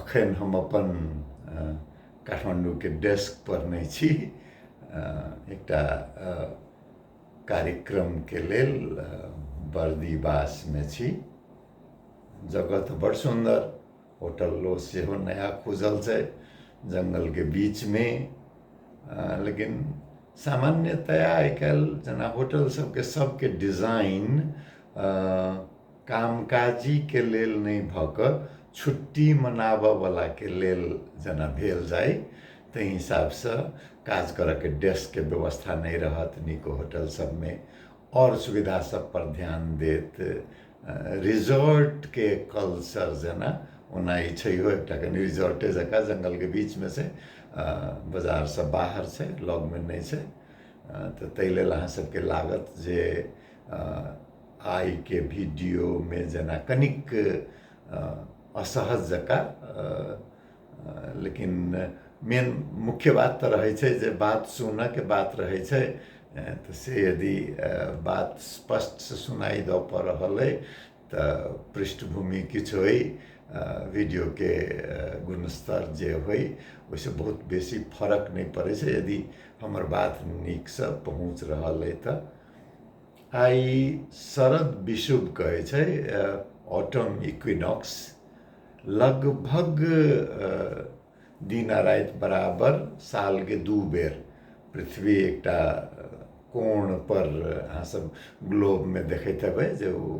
अखन हम अपन काठमाण्डूके डेस्कपर नहि छी एकटा कार्यक्रमके लेल बर्दीवासमे छी जगह तऽ बड़ सुन्दर होटलो सेहो नया खुजल छै जङ्गलके बीचमे लेकिन सामान्यतया आइ काल्हि जेना होटल सभके सभके डिजाइन कामकाजीके लेल नहि भऽ कऽ छुट्टी मनाबऽवलाके लेल जेना भेल जाइ ताहि हिसाबसँ काज करऽके डेस्कके व्यवस्था नहि रहत नीक होटल सबमे आओर सुविधा सबपर ध्यान देत रिजॉर्टके कल्चर जेना ओना ई छैहो एकटा कनी रिजॉर्टे जकाँ जङ्गलके बीचमे छै बजारसँ बाहर छै लगमे नहि छै तऽ ताहि लेल अहाँ सबके लागत जे आइके भिडियोमे जेना कनिक असहज जकाँ लेकिन मेन मुख्य बात तऽ रहै छै जे बात सुनऽके बात रहै छै तऽ से यदि बात स्पष्टसँ सुनाइ दऽ पऽ रहल अइ तऽ पृष्ठभूमि किछु अइ वीडियोके गुणस्तर जे होइ ओहिसँ बहुत बेसी फरक नहि पड़ै छै यदि हमर बात नीकसँ पहुँच रहल अइ तऽ आइ शरद विषुव कहै छै ऑटम इक्विनॉक्स लगभग दिन आ राति बराबर सालके दू बेर पृथ्वी एकटा कोणपर अहाँसभ ग्लोबमे देखैत हेबै जे ओ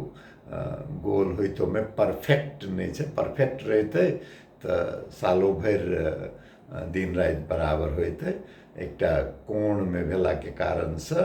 गोल होइत ओहिमे परफेक्ट नहि छै परफेक्ट रहितै तऽ सालो भरि दिन राति बराबर होइतै एकटा कोणमे भेलाके कारणसँ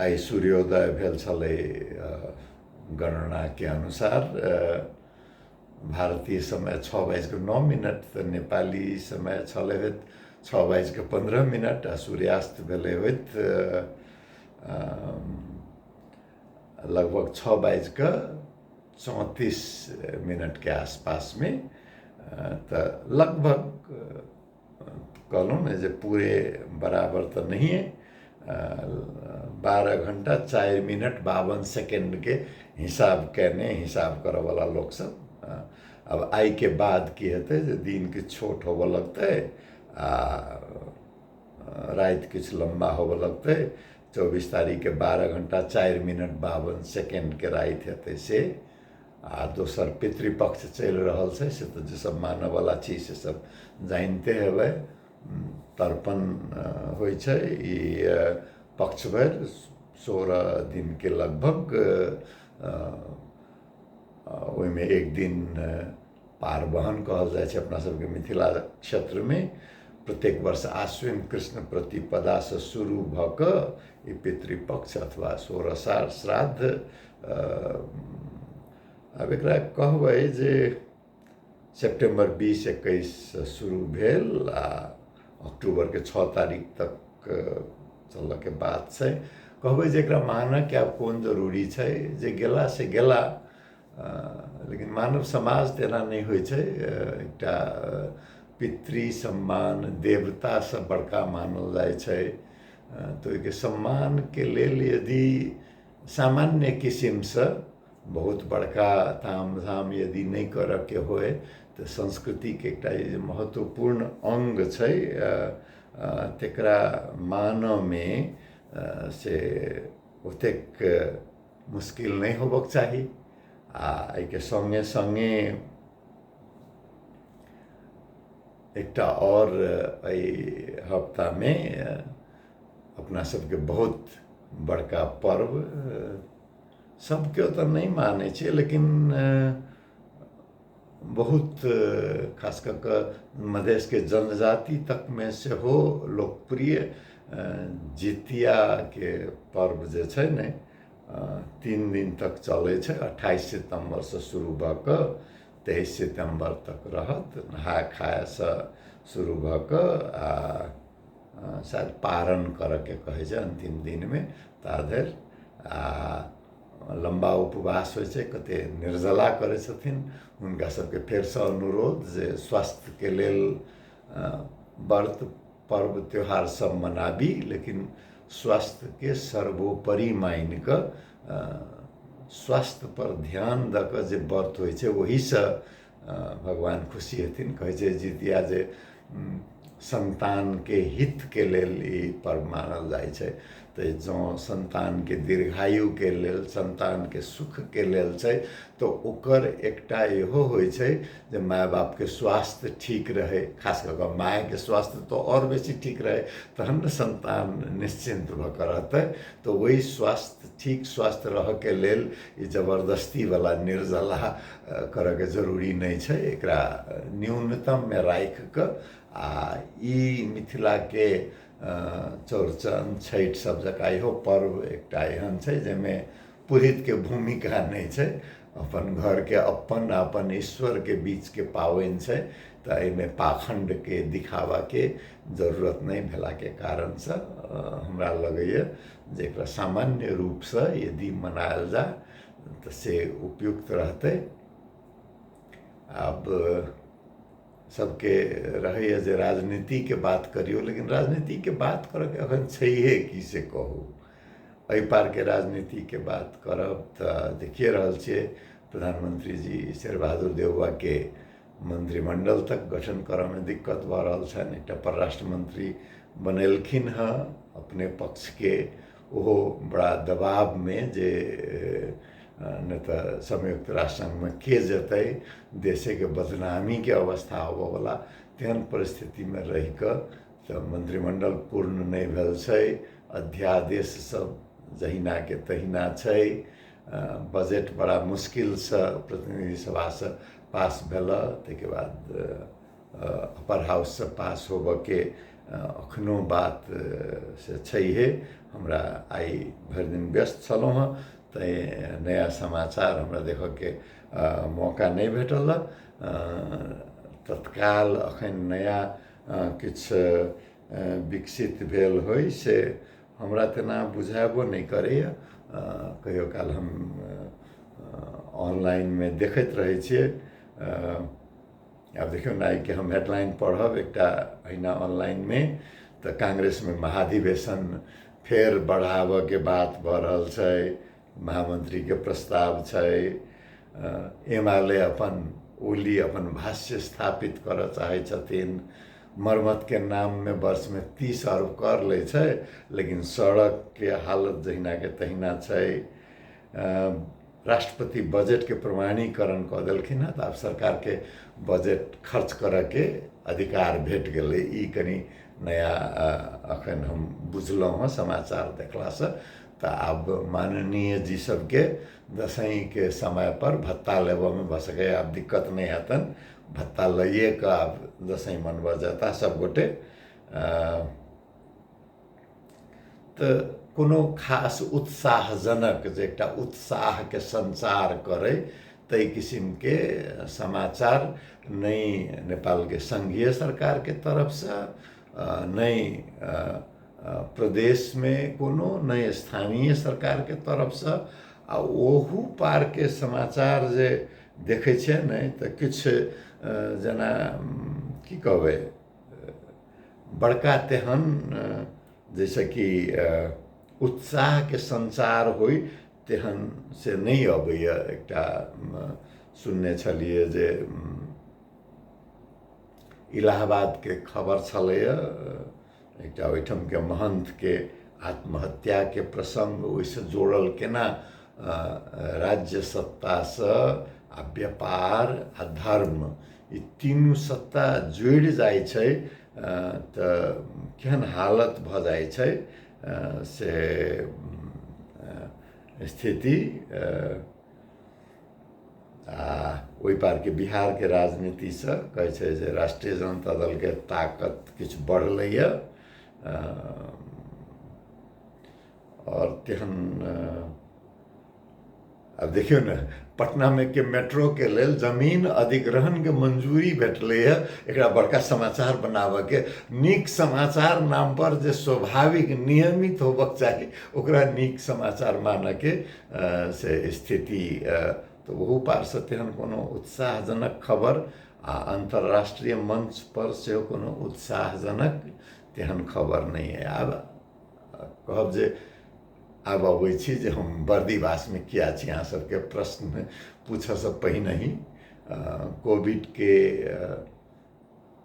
आइ सूर्योदय भेल छलै गणनाके अनुसार भारतीय समय छओ बाजि कऽ नओ मिनट तऽ नेपाली समय छलै होइत छओ बाजि कऽ पन्द्रह मिनट आ सूर्यास्त भेलै होइत लगभग छओ बाजि कऽ चौंतीस मिनटके आसपासमे तऽ लगभग कहलहुँ ने जे पूरे बराबर तऽ नहिए बारह घण्टा चारि मिनट बावन सेकेंडके हिसाब कयने हिसाब करऽवला लोकसभ आब आइके बाद की हेतै जे दिन किछु छोट होबऽ लगतै आ राति किछु लम्बा होबऽ लगतै चौबीस तारीखके बारह घण्टा चारि मिनट बावन सेकेंडके राति हेतै से आ दोसर पितृपक्ष चलि रहल छै से तऽ जे सब मानऽवला छी से सब जानिते हेबै तर्पण होइ छै ई पक्ष भरि सोरह दिनके लगभग ओहिमे एक दिन पारवहन कहल जाइ छै अपना सबके मिथिला क्षेत्रमे प्रत्येक वर्ष आश्विन कृष्ण प्रतिपदासँ शुरू भऽ कऽ ई पितृपक्ष अथवा सोरसार श्राद्ध आब एकरा कहबै जे सेप्टेम्बर बीस एकैससँ शुरू भेल आ अक्टूबरके छओ तारीख तक चलऽके बात छै कहबै जे एकरा मानऽके आब कोन जरूरी छै जे गेला से गेला लेकिन मानव समाज तऽ एना नहि होइ छै एकटा पितृ सम्मान देवतासँ बड़का मानल जाइ छै तऽ ओहिके सम्मानके लेल यदि सामान्य किसिमसँ बहुत बड़का ताम झाम यदि नहि करऽके होइ तऽ संस्कृतिके एकटा जे महत्वपूर्ण अङ्ग छै तकरा मानऽमे से ओतेक मुश्किल नहि होबक चाही आ एहिके सङ्गे सङ्गे एकटा आओर एहि हफ्तामे अपना सबके बहुत बड़का पर्व सबके तऽ नहि मानै छै लेकिन बहुत खास कऽ कऽ मधेशके जनजाति तकमे सेहो लोकप्रिय जितियाके पर्व जे छै ने तीन दिन तक चलै छै अट्ठाइस सितम्बरसँ शुरू भऽ कऽ तेइस सितम्बर तक रहत नहाय खायसँ शुरू भऽ कऽ आ शायद पारण करयके कहै छै अन्तिम दिनमे ता धरि आ लम्बा उपवास होइ छै कते निर्जला करै छथिन हुनका सबके फेरसँ अनुरोध जे स्वास्थ्यके लेल व्रत पर्व त्योहार सब मनाबी लेकिन स्वास्थ्यके सर्वोपरि मानि कऽ स्वास्थ्यपर ध्यान दऽ कऽ जे व्रत होइ छै ओहिसँ भगवान खुशी हेथिन कहै छै जितिया जे सन्तानके हितके लेल ई पर्व मानल जाइ छै तऽ जँ सन्तानके दीर्घायुके लेल सन्तानके सुखके लेल छै तऽ ओकर एकटा इहो होइ छै जे माय बापके स्वास्थ्य ठीक रहै खास कऽ कऽ मायके स्वास्थ्य तऽ आओर बेसी ठीक रहै तहन ने सन्तान निश्चिन्त भऽ कऽ रहतै तऽ ओहि स्वास्थ्य ठीक स्वास्थ्य रहऽके लेल ई जबरदस्तीवला निर्जला करऽके जरूरी नहि छै एकरा न्यूनतममे राखि कऽ आ ई मिथिलाके चौरचन छठि सब जकाँ इहो पर्व एकटा एहन छै जाहिमे पुरहितके भूमिका नहि छै अपन घरके अपन आ अपन ईश्वरके बीचके पाबनि छै तऽ एहिमे पाखण्डके दिखाबाके जरूरत नहि भेलाके कारणसँ हमरा लगैया जे एकरा सामान्य रूपसँ यदि मनायल जाय तऽ से उपयुक्त रहतै आब सभके रहैए जे राजनीतिके बात करियौ लेकिन राजनीतिके बात करयके एखन छैहे की से कहू एहि पारके राजनीतिके बात करब तऽ देखिए रहल छियै प्रधानमंत्री जी शेर बहादुर देउवाके मंत्रिमंडल तक गठन करयमे दिक्कत भऽ रहल छनि एकटा परराष्ट्र मंत्री बनेलखिन हेँ अपने पक्षके ओहो बड़ा दबावमे जे नहि तऽ संयुक्त राष्ट्र संघमे के जेतै देशेके बदनामीके अवस्था होबऽवला तेहन परिस्थितिमे रहिकऽ तऽ मन्त्रिमण्डल पूर्ण नहि भेल छै अध्यादेश सब जहिनाके तहिना छै बजट बड़ा मुश्किलसँ प्रतिनिधि सभासँ पास भेलऽ तैके बाद अपर हाउससँ पास होबऽके एखनो बात से छैहे हमरा आइ भरि दिन व्यस्त छलहुँ हँ तै नया समाचार हमरा देखऽके मौका नहि भेटल हँ तत्काल एखन नया किछु विकसित भेल होइ से हमरा तेना बुझेबो नहि करैए कहियो काल हम ऑनलाइनमे देखैत रहै छियै आब देखियौ ने आइके हम हेडलाइन पढ़ब एकटा अहिना ऑनलाइनमे तऽ कांग्रेसमे महाधिवेशन फेर बढ़ाबयके बात भऽ रहल छै महामंत्रीके प्रस्ताव छै एम आर ले अपन ओली अपन भाष्य स्थापित करय चाहै छथिन मरम्मतके नाममे वर्षमे तीस अरब कर लै छै लेकिन सड़कके हालत जहिनाके तहिना छै राष्ट्रपति बजेट के प्रमाणीकरण कऽ देलखिन हँ तऽ आब सरकार के बजेट खर्च करऽ के अधिकार भेट गेलै ई कनि नया अ, अखन हम बुझलहुँ हँ समाचार देखलासँ तऽ आब माननीय जी सबके दसैं के समय पर भत्ता लेबऽ मे भऽ सकैए आब दिक्कत नहि हेतनि भत्ता लइए कऽ आब दसैं मनबऽ जेता सब गोटे अ, तऽ कोनो खास उत्साहजनक जे एकटा उत्साहके सञ्चार करै ताहि किसिमके समाचार नहि नेपालके सङ्घीय सरकारके तरफसँ नहि प्रदेशमे कोनो नहि स्थानीय सरकारके तरफसँ आ ओहू पारके समाचार जे देखै छियै ने तऽ किछु जेना की कहबै बड़का तेहन जैसे कि उत्साहके संसार होइ तेहन से नहि अबैए एकटा सुनने छलियै जे इलाहाबादके खबर छलैए एकटा ओहिठामके महंतके आत्महत्याके प्रसङ्ग ओहिसँ जोड़ल केना राज्य सत्तासँ आ व्यापार आ धर्म ई तीनू सत्ता जुड़ि जाइ छै तऽ केहन हालत भऽ जाइ छै से स्थिति आ ओहि पारके बिहारके राजनीतिसँ कहै छै जे राष्ट्रीय जनता दलके ताकत किछु बढ़लैए आओर केहन आब देखियौ ने पटनामे के मेट्रोके लेल जमीन अधिग्रहणके मंजूरी भेटलैए एकरा बड़का समाचार बनाबयके नीक समाचार नामपर जे स्वाभाविक नियमित होबक चाही ओकरा नीक समाचार मानयके से स्थिति तऽ ओहो पारसँ तेहन कोनो उत्साहजनक खबर आ अन्तर्राष्ट्रीय मंचपर सेहो कोनो उत्साहजनक तेहन खबर नहि अइ आब कहब जे आब अबै छी जे हम बर्दीवासमे किया छी अहाँ सबके प्रश्न पूछऽसँ पहिनहि कोविडके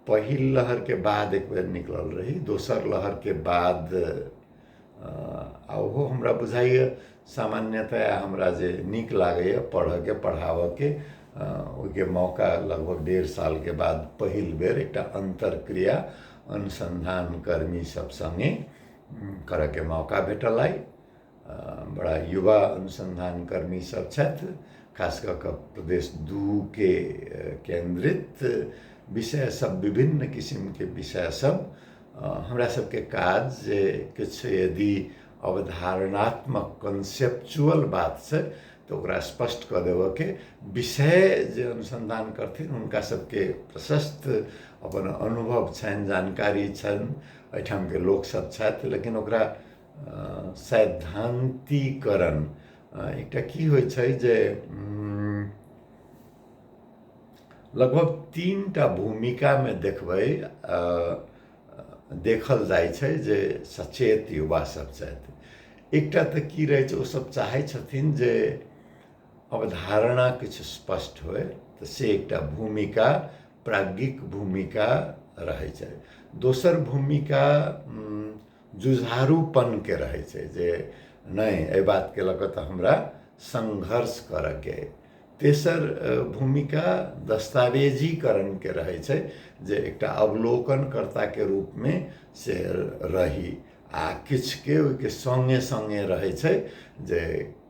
पहिल लहरके बाद एक बेर निकलल रही दोसर लहरके बाद आ ओहो हमरा बुझाइए सामान्यतया हमरा जे नीक लागैए पढ़ऽके पढ़ाबऽके ओहिके मौका लगभग डेढ़ सालके बाद पहिल बेर एकटा अन्तर्क्रिया अनुसन्धान कर्मी सब सङ्गे करऽके मौका भेटल अइ बड़ा युवा अनुसन्धान कर्मी सब छथि खास कऽ कऽ प्रदेश दूके केन्द्रित विषय सब विभिन्न किसिमके विषय सब हमरा सबके काज जे किछु यदि अवधारणात्मक कन्सेप्चुअल बात छै तऽ ओकरा स्पष्ट कऽ देबऽके विषय जे अनुसन्धान करथिन हुनका सबके प्रशस्त अपन अनुभव छनि जानकारी छनि एहिठामके लोकसब छथि लेकिन ओकरा सैद्धान्तिकरण एकटा की होइ छै जे लगभग तीन टा भूमिकामे देखबै देखल जाइ छै जे सचेत युवा सब छथि एकटा तऽ की रहै छै ओ सब चाहै छथिन जे अवधारणा किछु स्पष्ट होइ तऽ से एकटा भूमिका प्राज्ञिक भूमिका रहै छै दोसर भूमिका जुझारूपनके रहै छै जे नहि एहि बातके लऽ कऽ तऽ हमरा संघर्ष करऽके अइ तेसर भूमिका दस्तावेजीकरणके रहै छै जे एकटा अवलोकनकर्ताके रूपमे से रही आ किछुके ओहिके सङ्गे सङ्गे रहै छै जे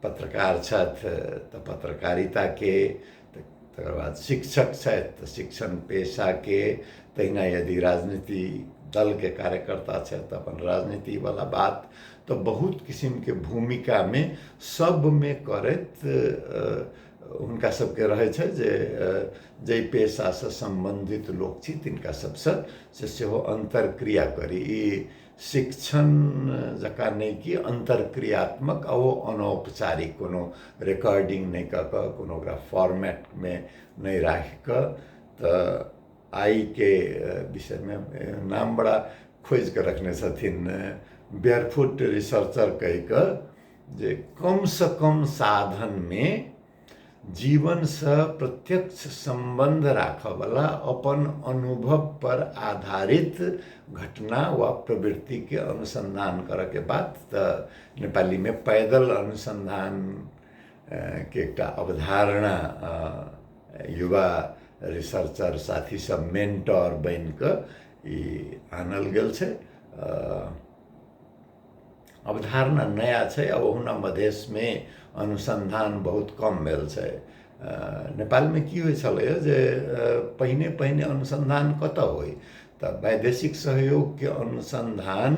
पत्रकार छथि तऽ पत्रकारिताके तकर बाद शिक्षक छथि तऽ शिक्षण पेशाके तहिना यदि राजनीति दलके कार्यकर्ता छथि तऽ अपन राजनीतिवला बात तऽ बहुत किसिमके भूमिकामे सबमे करैत हुनका सबके रहै छै जे जाहि पेशासँ सम्बन्धित लोक छी तिनका सबसँ से सेहो अन्तर्क्रिया करी ई शिक्षण जकाँ नहि कि अन्तर्क्रियात्मक आ ओ अनौपचारिक कोनो रेकॉर्डिंग नहि कऽ कऽ कोनो ओकरा फॉर्मेटमे नहि राखि कऽ तऽ आइके विषयमे नाम बड़ा खोजिके रखने छथिन बेयरफुट रिसर्चर कहिकऽ जे कमसँ कम साधनमे जीवनसँ प्रत्यक्ष सम्बन्ध राखऽवला अपन अनुभवपर आधारित घटना वा प्रवृत्तिके अनुसन्धान करऽके बात तऽ नेपालीमे पैदल अनुसन्धान के एकटा अवधारणा युवा रिसर्चर साथी सब मेंटर बन के आनल गेल छै अवधारणा नया छै आ ओहुना मधेशमे अनुसन्धान बहुत कम भेल छै नेपालमे की होइ छलैए जे पहिने पहिने अनुसन्धान कतऽ होइ तऽ वैदेशिक सहयोगके अनुसन्धान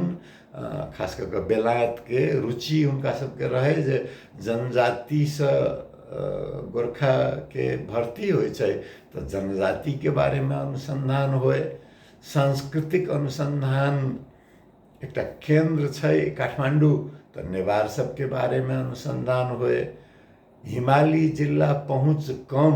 खास कऽ कऽ बेलायतके रुचि हुनका सभके रहै जे जनजातिसँ गोरखाके भर्ती होइ छै तऽ जनजातिके बारेमे अनुसन्धान होइ सांस्कृतिक अनुसन्धान एकटा केन्द्र छै काठमाण्डू तऽ नेवार सभके बारेमे अनुसन्धान होइ हिमालय जिला पहुँच कम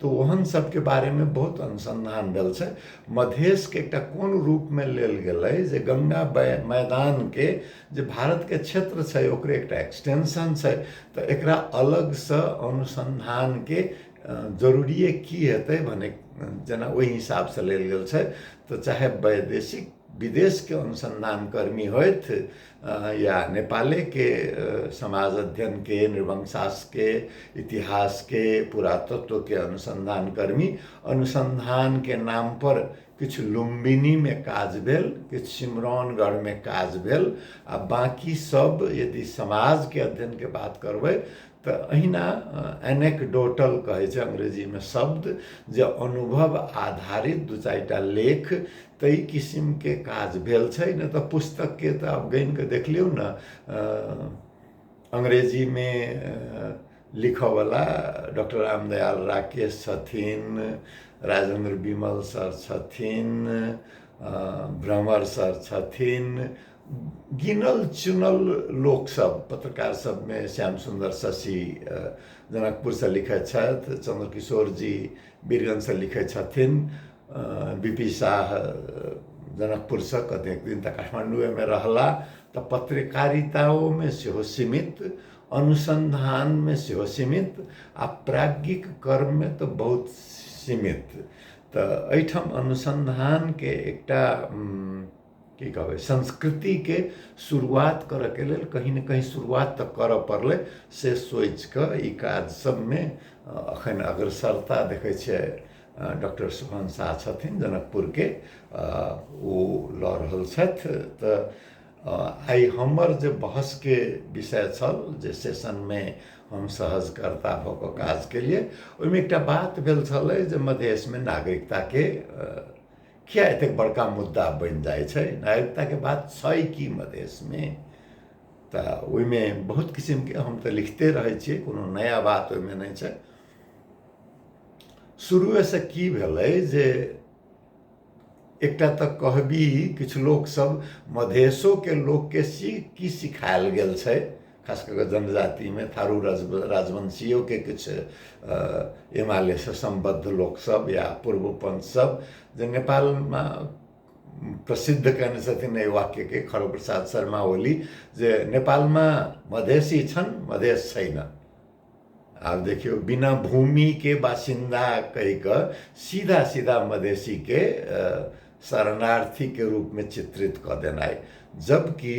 तऽ ओहन सबके बारेमे बहुत अनुसन्धान भेल छै मधेशके एकटा कोन रूपमे लेल गेलै जे गङ्गा मैदानके जे भारतके क्षेत्र छै ओकरे एकटा एक्सटेंशन छै तऽ एकरा अलगसँ अनुसन्धानके जरूरिए की हेतै भने जेना ओहि हिसाबसँ लेल गेल छै तऽ चाहे वैदेशिक विदेशके अनुसन्धानकर्मी होथि या नेपालेके समाज अध्ययनके नृवंशासके इतिहासके पुरातत्वके अनुसन्धान कर्मी अनुसन्धानके नामपर किछु लुम्बिनीमे काज भेल किछु सिमरौनगढ़मे काज भेल आ बाँकी सब यदि समाजके अध्ययनके बात करबै तऽ अहिना एनेकडोटल कहै छै अंग्रेजीमे शब्द जे अनुभव आधारित दू चारिटा लेख ताहि किसिमके काज भेल छै नहि तऽ पुस्तकके तऽ आब गनि कऽ देख लियौ ने अंग्रेजीमे लिखयवला डॉक्टर रामदयाल राकेश छथिन राजेन्द्र विमल सर छथिन भ्रमर सर छथिन गिनल चुनल लोकसभ पत्रकार सभमे श्याम सुन्दर शशि जनकपुरसँ लिखैत छथि चन्द्रकिशोर जी वीरगंजसँ लिखैत छथिन बी पी साह जनकपुरसँ कतेक दिन तऽ काठमाण्डूएमे रहलाह तऽ पत्रकारिताओमे सेहो सीमित अनुसन्धानमे सेहो सीमित आ प्राज्ञिक कर्ममे तऽ बहुत सीमित तऽ एहिठाम अनुसन्धानके एकटा की कहबै संस्कृतिके शुरुआत करऽके लेल कहीं ने कहीं शुरुआत तऽ करऽ पड़लै से सोचि कऽ ई काज सभमे अखन अग्रसरता देखै छियै डॉक्टर सुभन शाह छथिन जनकपुरके ओ लऽ रहल छथि तऽ आइ हमर जे बहसके विषय छल जे सेशनमे हम सहजकर्ता भऽ कऽ काज केलियै ओहिमे एकटा बात भेल छलै जे मधेशमे नागरिकताके किया एतेक बड़का मुद्दा बनि जाइ छै नागरिकताके बात छै कि मधेशमे तऽ ओहिमे बहुत किसिमके हम तऽ लिखते रहै छियै कोनो नया बात ओहिमे नहि छै शुरुएसँ की भेलै जे एकटा तऽ कहबी किछु लोकसभ मधेशोके लोकके सी की सिखायल गेल छै खास कऽ कऽ जनजातिमे थारू राज राजवंशियोके किछु हिमालयसँ सम्बद्ध लोकसभ या पूर्व पञ्च सभ जे नेपालमे प्रसिद्ध कयने छथिन एहि वाक्यके खड़ग प्रसाद शर्मा ओली जे नेपालमे मधेसी छनि मधेश छै ने आब देखियौ बिना भूमिके बासिन्दा कहि कऽ सीधा सीधा मधेसीके शरणार्थीके रूपमे चित्रित कऽ देनाइ जबकि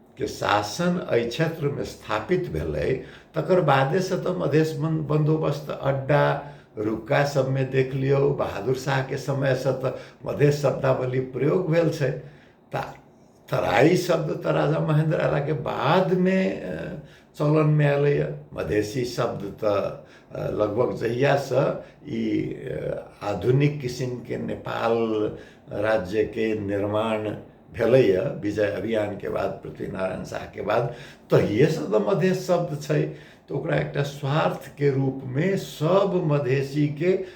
के शासन एहि क्षेत्रमे स्थापित भेलै तकर बादेसँ तऽ मधेश बन बन्दोबस्त अड्डा रुका सभमे देख लियौ बहादुर शाहके समयसँ तऽ मधेश शब्दावली प्रयोग भेल छै तऽ तराइ शब्द तऽ राजा महेन्द्र अयलाके बादमे चलनमे अयलैए मधेसी शब्द तऽ लगभग जहियासँ ई आधुनिक किसिमके नेपाल राज्यके निर्माण भेलैए विजय अभियानके बाद पृथ्वीनारायण शाहके बाद तहिएसँ तऽ मधेस शब्द छै तऽ ओकरा एकटा स्वार्थके रूपमे सभ मधेसीके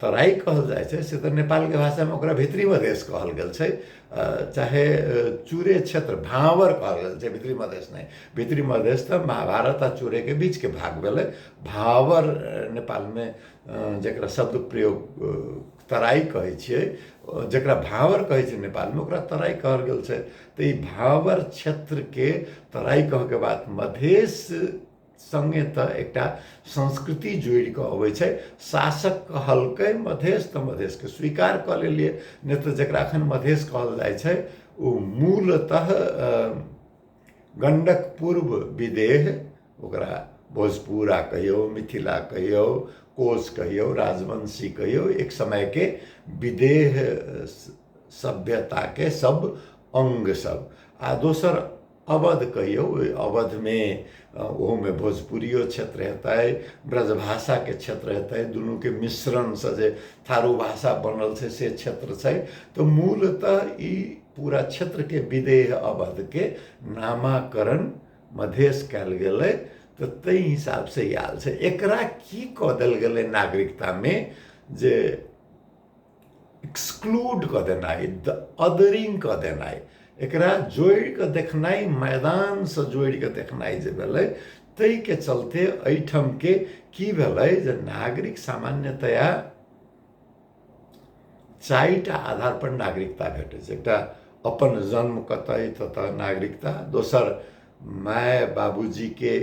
तराई कहल जाइ छै से तऽ नेपालके भाषामे ओकरा भित्री मधेश कहल गेल छै चाहे चूरे क्षेत्र भाँवर कहल गेल छै भित्री मधेश नहि भित्री मधेश तऽ महाभारत आ चूरेके बीचके भाग भेलै भाँवर नेपालमे जकरा शब्द प्रयोग तराई कहै छियै जकरा भाँवर कहै छै नेपालमे ओकरा तराई कहल गेल छै तऽ ई भाँवर क्षेत्रके तराई कहऽके बाद मधेश संगे त एकटा संस्कृति जोड़ि के अबै छै शासक कहलकै मधेश त मधेश के स्वीकार क लेलिए नहि त जकरा अखन मधेश कहल जाइ छै ओ मूलतः गंडक पूर्व विदेह ओकरा भोजपुरा कहियो मिथिला कहियो कोश कहियो राजवंशी कहियो एक समय के विदेह सभ्यता के सब अंग सब आ दोसर अवध कहियौ ओहि अवधमे ओहोमे भोजपुरियो क्षेत्र हेतै ब्रजभाषाके क्षेत्र हेतै दुनूके मिश्रणसँ जे थारू भाषा बनल छै से क्षेत्र छै तऽ मूलतः ई पूरा क्षेत्रके विदेह अवधके नामाकरण मधेश कयल गेलै तऽ ताहि हिसाबसँ ई आयल छै एकरा की कऽ देल गेलै नागरिकतामे जे एक्सक्लूड कऽ देनाइ द अदरिंग कऽ देनाइ एकरा जोड़ि कऽ देखनाइ मैदानसँ जोड़ि कऽ देखनाइ जे भेलै ताहिके चलते एहिठामके की भेलै जे नागरिक सामान्यतया चारिटा आधारपर नागरिकता भेटै छै एकटा अपन जन्म कतय ततऽ नागरिकता दोसर माय बाबूजीके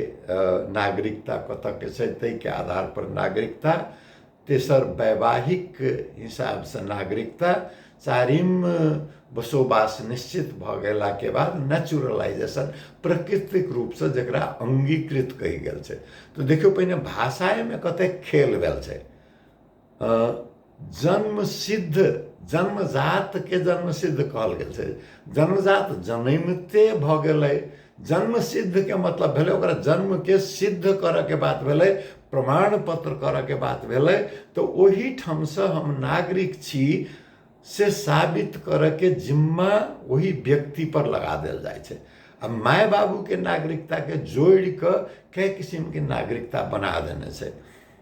नागरिकता कतयके छै ताहिके आधारपर नागरिकता तेसर वैवाहिक हिसाबसँ नागरिकता चारिम बसोबास निश्चित भऽ गेलाके बाद नेचुरलाइजेशन प्राकृतिक रूपसँ जकरा अङ्गीकृत कहि गेल छै तऽ देखियौ पहिने भाषा एहिमे कतेक खेल भेल छै जन्म सिद्ध जन्मजातके जन्म सिद्ध कहल गेल छै जन्मजात जनमिते भऽ गेलै जन्म सिद्ध के मतलब भेलै ओकरा जन्म के सिद्ध करऽ के बात भेलै प्रमाण पत्र करऽ के बात भेलै तऽ ओहि ठाम से हम नागरिक छी से साबित करऽ के जिम्मा ओहि व्यक्ति पर लगा देल जाइ छै आ माय बाबू के नागरिकता के जोड़ि कऽ कए किसिम के नागरिकता बना देने छै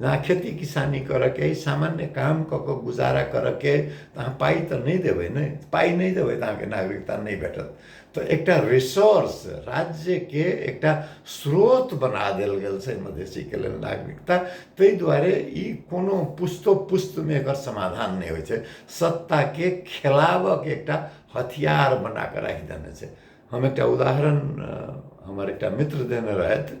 जहाँ खेती किसानी करऽके अइ सामान्य काम कऽ कऽ गुजारा करऽके अइ तऽ अहाँ पाइ तऽ नहि देबै ने पाइ नहि देबै तऽ अहाँके नागरिकता नहि भेटत तऽ एकटा रिसोर्स राज्यके एकटा स्रोत बना देल गेल छै मधेसीके लेल नागरिकता ताहि दुआरे ई कोनो पुस्तो पुस्तमे एकर समाधान नहि होइ छै सत्ताके खेलाबऽके एकटा हथियार बनाकऽ राखि देने छै हम एकटा उदाहरण हमर एकटा मित्र देने रहथि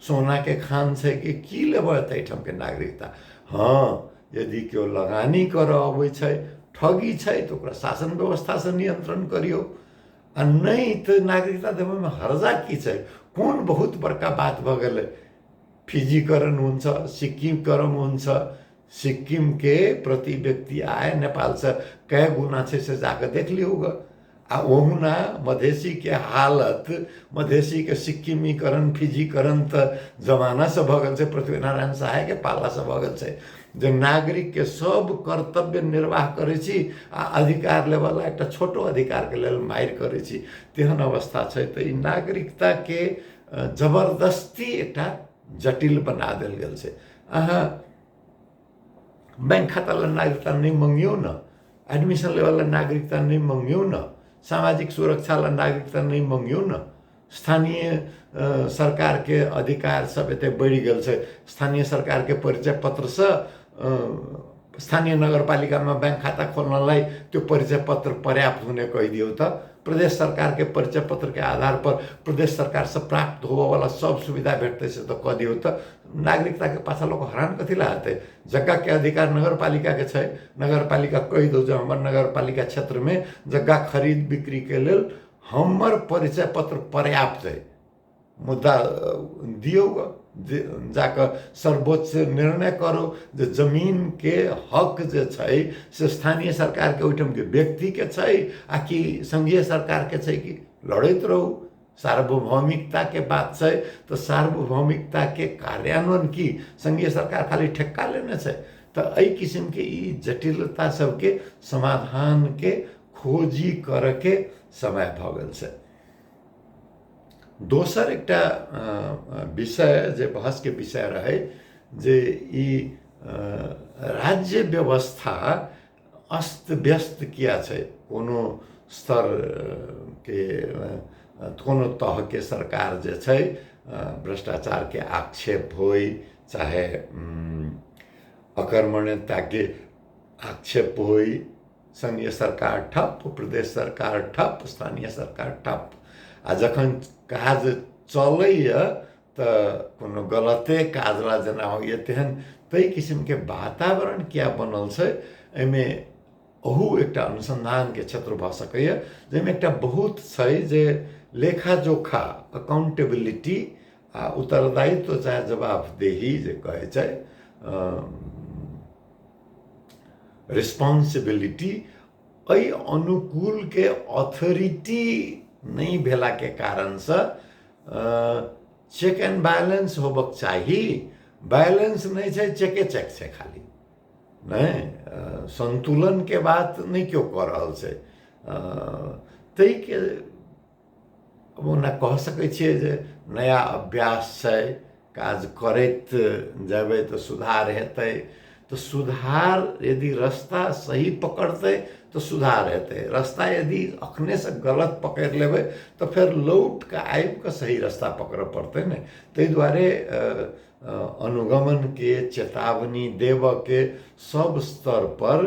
सोनाके खान छै कि की लेबै ताहिठामके नागरिकता हँ यदि केओ लगानी करऽ अबै छै ठगी छै तऽ ओकरा शासन व्यवस्थासँ नियन्त्रण करियौ आ नहि तऽ नागरिकता देबैमे हर्जा की छै कोन बहुत बड़का बात भऽ गेलै फिजीकरण हुन्छ सिक्किमकरण हुन्छ सिक्किमके प्रति व्यक्ति आए नेपालसँ कए गुणा छै से जाकऽ देख लियौ गऽ आ ओहुना मधेशीके हालत मधेशीके सिक्किमीकरण फिजीकरण तऽ जमानासँ भऽ गेल छै पृथ्वी नारायण सहायके पालासँ भऽ गेल छै जे नागरिकके सब कर्तव्य निर्वाह करै छी आ अधिकार लेबऽला एकटा छोटो अधिकारके लेल मारि करै छी तेहन अवस्था छै तऽ ई नागरिकताके जबरदस्ती एकटा जटिल बना देल गेल छै अहाँ बैंक खाता लए नागरिकता नहि मङ्गियौ ने एडमिशन लेवल लए नागरिकता नहि मङ्गियौ ने सामाजिक सुरक्षा लए नागरिकता नहि मङ्गियौ ने स्थानीय सरकारके अधिकार सब एते बढ़ि गेल छै स्थानीय सरकारके परिचय पत्रसँ स्थानीय नगरपालिकामा ब्याङ्क खाता खोल्नलाई त्यो परिचय पत्र पर्याप्त हुने कहिदियो त प्रदेश सरकारकै परिचय पत्रकै आधार पर प्रदेश सरकार से प्राप्त होबयवला सब सुविधा भेटतै से त कऽ दियौ तऽ नागरिकताके पाछा लोक हरान कथी लए हेतै जग्गाके अधिकार नगरपालिकाके छै नगरपालिका कहि दौ जे हमर नगरपालिका क्षेत्रमे जग्गा खरीद बिक्रीके लेल हमर परिचय पत्र पर्याप्त अइ मुदा दियौ गऽ जे जा कऽ सर्वोच्च निर्णय करू जे जमीनके हक जे छै से स्थानीय सरकारके ओहिठामके व्यक्तिके छै आ कि सङ्घीय सरकारके छै कि लड़ैत रहू सार्वभौमिकताके बात छै तऽ सार्वभौमिकताके कार्यान्वयन की सङ्घीय सरकार खाली ठेक्का लेने छै तऽ एहि किसिमके ई जटिलता सभके समाधानके खोजी करयके समय भऽ गेल छै दोसर एकटा विषय जे बहसके विषय रहै जे ई राज्य व्यवस्था अस्त व्यस्त किया छै कोनो स्तरके कोनो तहके सरकार जे छै भ्रष्टाचारके आक्षेप होइ चाहे अकर्मण्यताके आक्षेप होइ संघीय सरकार ठप प्रदेश सरकार ठप स्थानीय सरकार ठप आ जखन काज चलैए तऽ कोनो गलते काजला जेना होइए तेहन ताहि किसिमके वातावरण किया बनल छै एहिमे ओहू एकटा अनुसन्धानके क्षेत्र भऽ सकैए जाहिमे एकटा बहुत छै जे लेखाजोखा अकाउंटेबिलिटी आ उत्तरदायित्व चाहे जवाबदेही जे कहै छै रिस्पॉन्सिबिलिटी एहि अनुकूलके अथोरिटी नहि भेलाके कारणसँ चेक एंड बैलेंस होबक चाही बैलेंस नहि छै चेके चेक छै खाली नहि संतुलनके बात नहि केओ कऽ रहल छै ताहिके ओना कह सकै छियै जे नया अभ्यास छै काज करैत जेबै तऽ सुधार हेतै तऽ सुधार यदि रस्ता सही पकड़तै तऽ सुधार हेतै रस्ता यदि अखनेसँ गलत पकड़ि लेबै तऽ फेर लौट कऽ आबि कऽ सही रस्ता पकड़ऽ पड़तै ने ताहि दुआरे अनुगमनके चेतावनी देबऽके सब स्तर पर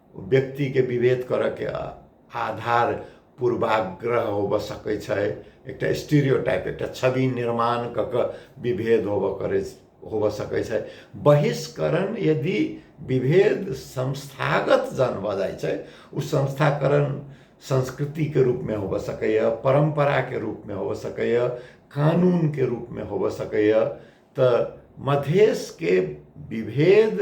व्यक्तिके विभेद करऽके आधार पूर्वाग्रह होबऽ सकै छै एकटा स्टीरियोटाइप एकटा छवि निर्माण कऽ कऽ विभेद होबऽ करै होबऽ सकै छै बहिष्करण यदि विभेद संस्थागत जन भऽ जाइ छै ओ संस्थाकरण संस्कृतिके रूपमे होबऽ सकैए परम्पराके रूपमे होबऽ सकैए कानूनके रूपमे होबऽ सकैए तऽ मधेशके विभेद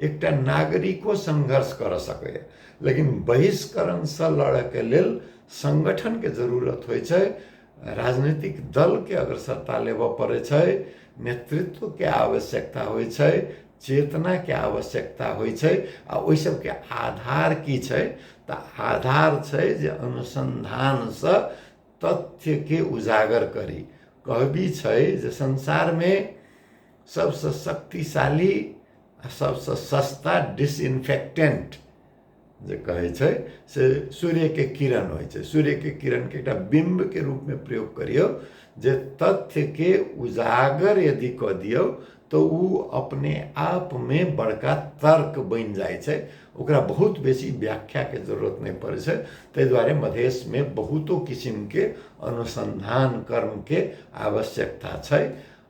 एकटा नागरिको संघर्ष कर सकैए लेकिन बहिष्करणसँ लड़ैके लेल सङ्गठनके जरूरत होइ छै राजनीतिक दलके अग्रसरता लेबऽ पड़ै छै नेतृत्वके आवश्यकता होइ छै चेतनाके आवश्यकता होइ छै आ ओहि सबके आधार की छै तऽ आधार छै जे अनुसन्धानसँ तथ्यके उजागर करी कहबी छै जे संसारमे सबसँ शक्तिशाली आ सबसँ सस्ता डिसइन्फेक्टेन्ट जे कहै छै से सूर्यके किरण होइ छै सूर्यके किरणके एकटा बिम्बके रूपमे प्रयोग करियौ जे तथ्यके उजागर यदि कऽ दियौ तऽ ओ अपने आपमे बड़का तर्क बनि जाइ छै ओकरा बहुत बेसी व्याख्याके जरूरत नहि पड़ै छै ताहि दुआरे मधेशमे बहुतो किसिमके अनुसन्धान कर्मके आवश्यकता छै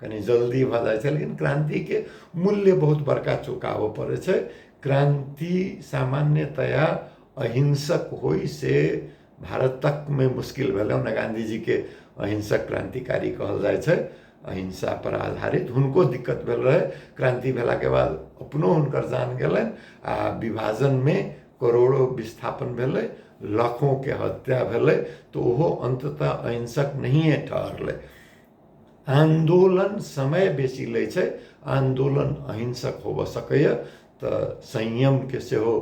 कनि जल्दी भऽ जाइ छै लेकिन क्रान्तिके मूल्य बहुत बड़का चुकाबऽ पड़ै छै क्रान्ति सामान्यतया अहिंसक होइ से भारत तकमे मुश्किल भेलै ओना गाँधीजीके अहिंसक क्रान्तिकारी कहल जाइ छै अहिंसा पर आधारित हुनको दिक्कत भेल रहै क्रान्ति भेलाके बाद अपनो हुनकर जान गेलनि आ विभाजनमे करोड़ो विस्थापन भेलै लाखोके हत्या भेलै तऽ ओहो अन्ततः अहिंसक नहिए ठहरलै आन्दोलन समय बेसी लै छै आन्दोलन अहिंसक होबऽ सकैए तऽ संयमके सेहो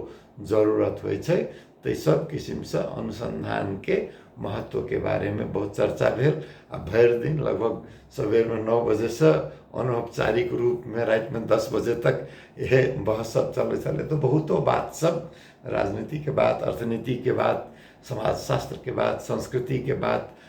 जरूरत होइ छै ताहि सब किसिमसँ अनुसन्धानके महत्वके बारेमे बहुत चर्चा भेल आ भरि दिन लगभग सबेरमे नओ बजेसँ अनौपचारिक रूपमे रातिमे दस बजे तक इहे बहस सब चलै छलै तऽ बहुतो बात सब राजनीतिके बात अर्थनीतिके बात समाजशास्त्रके बात संस्कृतिके बात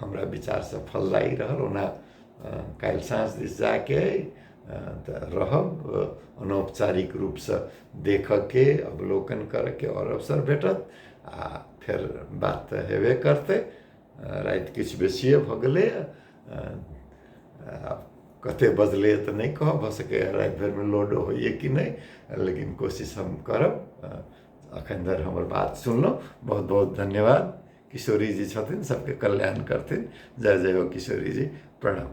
हमरा विचार सफल लागि रहल ओना काल्हि साँझ दिस जायके अइ तऽ रहब अनौपचारिक रूपसँ देखऽके अवलोकन करऽके आओर अवसर भेटत आ फेर बात तऽ हेबे करतै राति किछु बेसिए भऽ गेलैए आब कतेक बजलैए तऽ नहि कहब भऽ सकैए राति भरिमे लोडो होइए कि नहि लेकिन कोशिश हम करब एखन धरि हमर बात सुनलहुँ बहुत बहुत धन्यवाद किशोरी जी छथिन सबके कल्याण करथिन जय जय हो किशोरी जी प्रणाम